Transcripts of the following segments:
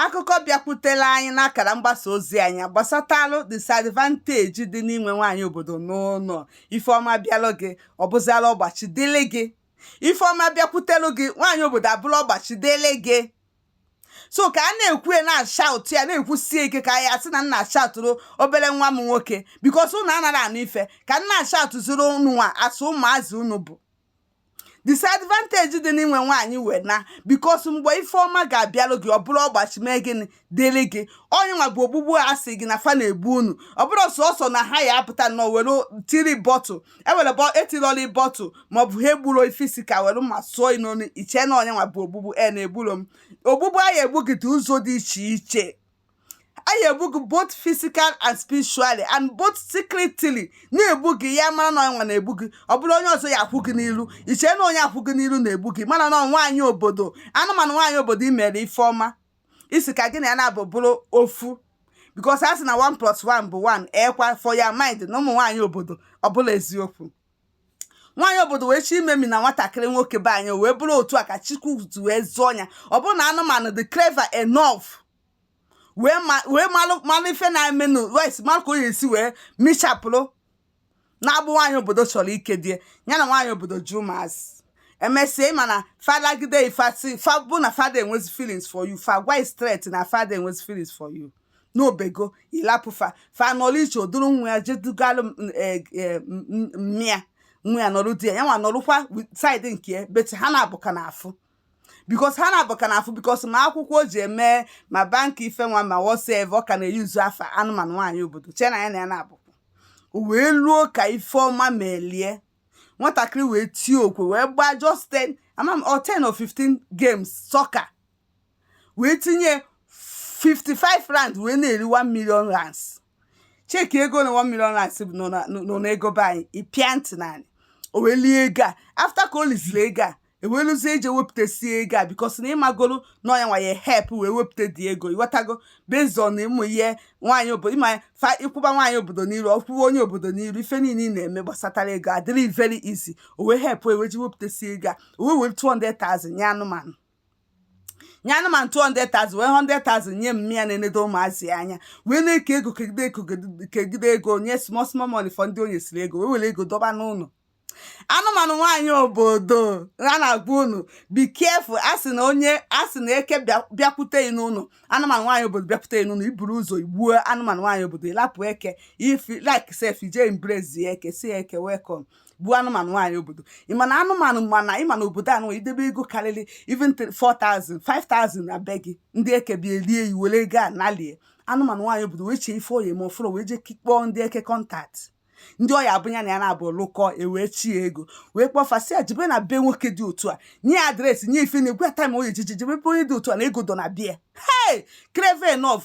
akụkọ bịakwutere anyị n'akara mgbasa ozi anyị gbasatalụ disadvantage dị n'inwe nwaanyị obodo n'ụlọ ife ọma bịalụ gị ọ bụziala ọgbachi dịlị gị ife ọma bịakwutelụ gị nwaanyị obodo abụrụ ọgbachi dịlị gị so ka a na-ekwu ya na-ashaụtụ ya na-ekwusie ike ka ya sị na m na-ashaụtụrụ obere nwa m nwoke because unu anarọ anụ ife ka m na-ashaụtụziri unu nwa as ụmụazị unu bụ disadvantage dị n'inwe nwaanyị wee na because mgbe ife ọma ga-abịalụ gị ọ bụrụ ọgbachi mee gịnị dịrị gị ọ nya nwa bụ ogbugbu a sị gị na fa na-egbu unu ọ bụrụ sọsọ na ha ya apụta nọ were tiri bottle e were etirọli bottle maọbụ ha egburo ị physical were mma sụọ ị n'onu i chee na ọ nya nwa bụ ogbugbu e na-egburo m ogbugbu a ya-egbu gị dị ụzọ dị iche iche a ya-egbu gị both physical and spiritually and both secretly na-egbu gị ya mara na ọnwa na-egbu gị ọ bụrụ onye ọzọ ya akwụ gị n'ilu i chee na onye a kwụ gị n'ilu na-egbu gị mana na nwaanyị obodo anụmanụ nwaanyị obodo i mere ife ọma ị sị ka gị na ya naabọ bụrụ ofu because a sị na 1 plus 1 bụ 1 ekwa for your mind na ụmụ nwaanyị obodo ọ bụrọ eziokwu nwaanyị obodo wee chọ imemina nwatakịrị nwoke be anyị wee bụrụ otu a ka chukwu wee zọọ ya ọ bụrụ na anụmanụ dị clever enough wee malụ malụ ife na-emenụ wee malụ ka o esi wee michapụrụ n'agbụ nwaanyị obodo chọrọ ikedo ya na nwaanyị obodo ji ụmụazị emesịa ịma na fadagide ifasi fa bụ na fa ada enwezi feelings for you fa agwa straight na fa ada enwezi feelings for you na o bego ị lapụ fa fa nọrọ iche o duru nwa ya jedugalụ e, e, mma ya nwa ya nọrụ there ya nwa nọrụkwa side nke but ha naabọ ka na-afụ because ha naabọ ka na-afụ because ma akwụkwọ o ji eme ma banki ife nwa ma whatever ọ ka na-eyuzu afa anụmanụ nwaanyị obodo chee na ya na ya na-abụ wee luo ka ife ọma melie nwatakịrị wee tie okwe wee gbaa just 10 ama m 10 or 15 games soccer wee tinye 55 rand wee na-eri 1 million rands check ego na 1 million rands bụ nọ na- nọ n'ego be anyị ịpịa ntị naanị o wee lie ego a after ka o liziri ego a eweluzie eje wepụtasie ego a because na ịmagolu na ọ nya nwa ya help wee wepụta dị ego ịghọtago based on ịmụ ihe nwaanyị obodo ịma fa ịkwụba nwaanyị obodo n'iru ọkwụwa onye obodo n'iru ife niile ị na-eme gbasatara ego adịrị very easy o wee help wee weji wepụtasie ego a o wee were 200,000 nye anụmanụ nye anụmanụ 200,000 wee 100,000 nye mma ya na-enedo ụmụazị ya anya wee na-eke ego kegide ego kegide ego nye small small money for ndị o nyesịrị ego wee were ego dọba n'ụlọ anụmanụ nwaanyị obodo a na-agwa unu be careful a sị na onye a sị na eke bịakwute ị n'ụlọ anụmanụ nwaanyị obodo bịakwute ị n'ụlọ i buru ụzọ gbuo anụmanụ nwaanyị obodo ị lapụ eke if you like sef i je embrace eke sị eke welcome gbuo anụmanụ nwaanyị obodo ịma na anụmanụ mana ịma na obodo a anọ idebe ego karịrị even 4000 5000 na be gị ndị eke bịa elie yi were ego a nalie anụmanụ nwaanyị obodo wee chee ife ọ ya-eme ọ fụrọ wee jee kpọọ ndị eke contact ndị ọya bụ ya na ya na-abụ lụkọ ewee chi ya ego wee kpọọ fa sị ya jebe na be nwoke dị otu a nye ya address nye ife na-agwa ya time ọ ya-eji jebe be onye dị otu a na ego dọ na be ya hey crave enough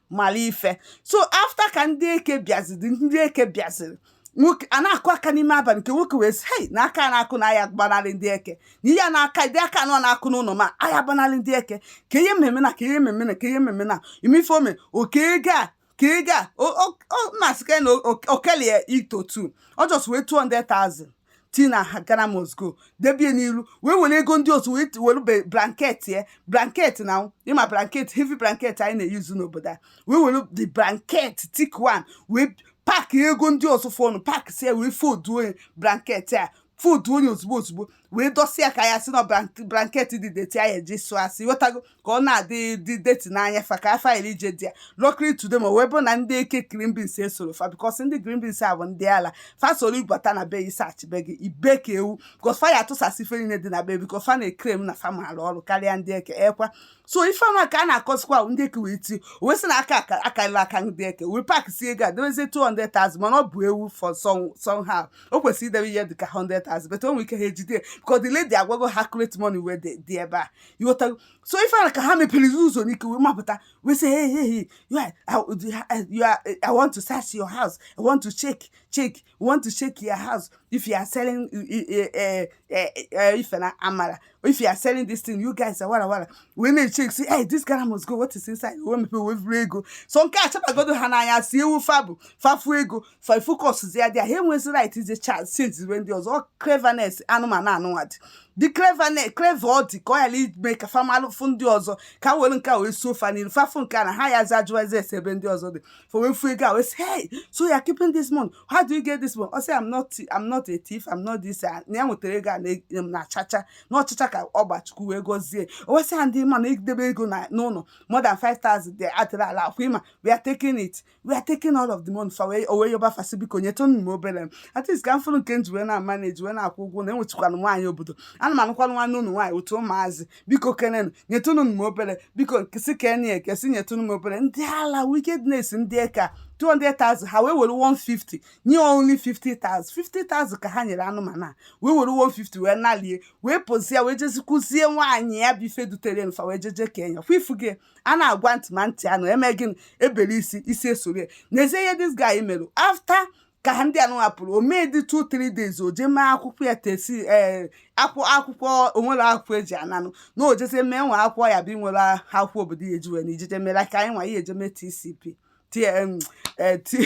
mara ife so after ka ndị eke bịaziri ndị eke bịaziri nwoke a na-akụ aka n'ime abalị nke nwoke wee sị hei na aka na-akụ na aya gbanarị ndị eke na ihe a na-aka dị aka anọ na-akụ n'ụlọ m a aya gbanarị ndị eke kee ihe m ma-eme now kee ihe m ma-eme now ịma ife o me o kee ego a kee ego a masị ka na o kelie into two ọ just wee 200,000 tii na Ghana must go debie n'iru wee were ego ndị ọzọ wee were blanket ya blanket na ịma blanket heavy blanket anyị na-eyuzu n'obodo a wee were the blanket thick one wee pack ego ndị ọzọ fọnụ packsịa wee folduonye blanket a folduonye ozugbo ozugbo wee dọsịa ka a ya-asị na blanket dị dirty a ya-eje ịsụ asụ ịghọtago ka ọ na-adị dị dirty n'anya fa ka fa ghalụ ije dị ya luckily to them ọ wee bụ na ndị eke green beans esorọ fa because ndị green beans a bụ ndị ala fa soro ibata na be ịsearch be gị i bee ka ewu because fa ya atụsasị ife niile dị na be because fa na-eclaim na fa maara ọrụ karịa ndị eke ekwa so ife ọma ka a na-akụzikwa ndị eke wee ti wee sị na aka akarịla aka ndị eke wee packsị ego a debezie 200,000 mana ọ bụ ewu for somehow o kwesịrị idebe ihe dị ka 100,000 but o nwere ike ha ejide because the lady agwago ha correct money wee dị ebe a ịghọtago so ife a ka ha meperezi ụzọ n'ike wee mabata wee sị hey hey hey you are, I, you are, I want to search your house I want to check check I want to check your house if you are selling ife na amala if you are selling this thing you guys are wara wara wee na-echeck sị hey this Ghana must go what is inside wee mepere wee bụrụ ego so nke a chabagodo ha n'anya si ewu fa bụ fa fụ ego fa focuszịa there ha enwezi right ịsearch and seize ihe ndị ọzọ cleverness anụmanụ nụnwa dị dị cleverness clever ọ dị ka ọ ya-eme ka fa ghalụ ịfụ ndị ọzọ ka ha were nke a wee suo fa n'ilu fa fụ nke a na ha ya za ajụwazi ese ebe ndị ọzọ dị fa wee fụ ego a wee sị hey so you are keeping this money how do you get this money ọ sị I'm not I'm not a thief I'm not this a na ya nwetara ego a na- na chacha na ọ chacha ka ọ gba Chukwu wee gọzie o wee sị ya na ị ma na idebe ego na- n'ụlọ more than 5000 dị adịrọ allowed ịma we are taking it we are taking all of the money fa wee o wee yọba fa sị biko nyetụnụ m obere m at least ka m fụrụ nke m ji wee na-amanage wee na-akwụ ụgwọ na enwetụkwanụ nwaanyị obodo ana m anụkwanụ nwanne ụnụ nwaanyị otu ụmụazị biko kenenụ nyetụnụ m obere biko si keni ekesi nyetụnụ m obere ndị ala wickedness ndị eke 200,000 ha wee were 150 nye only 50,000 50,000 ka ha nyere anụmanụ a wee were 150 wee nalie wee pụzie wee jezikwuzie nwaanyị ya bụ ife dutere fa wee jeje kenye ya kwa ịfụgo a na-agwa ntị ma ntị anụ eme gịnị e bere isi isi esoro ya n'ezie ihe this guy mere after ka ha ndị anụ hapụrụ o mee dị 2 3 days o jee mee akwụkwọ ya tc ee akwụ akwụkwọ o nwere akwụkwọ e ji ana ụnọ na o jezie mee nwa akwụkwọ ya bụ i nwere akwụkwọ obodo ya eji wee na ijeje mere ka anyị nwa ya eje mee tcp tm ee ti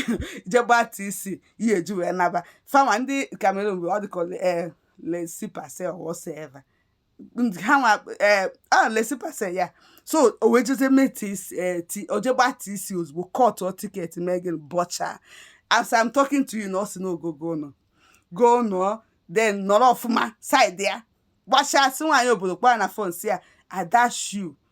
je gbaa tc ya eji wee naba fa nwa ndị Cameroon bụ ọ dịka ee laissez-passer or whatsoever ha nwa ee eh, a ah, laissez-passer ya so o wee jeze mee ti eh, o je gbaa tc ozugbo kọtụ tiketi mee gịnị bọcha as i'm talking to you now ọ si n'ogogo nọgo n'ụnọ then nọrọ ọfụma saịdị ya gbachaa si nwaanyị obodo kpọọ na fon sị ya adashu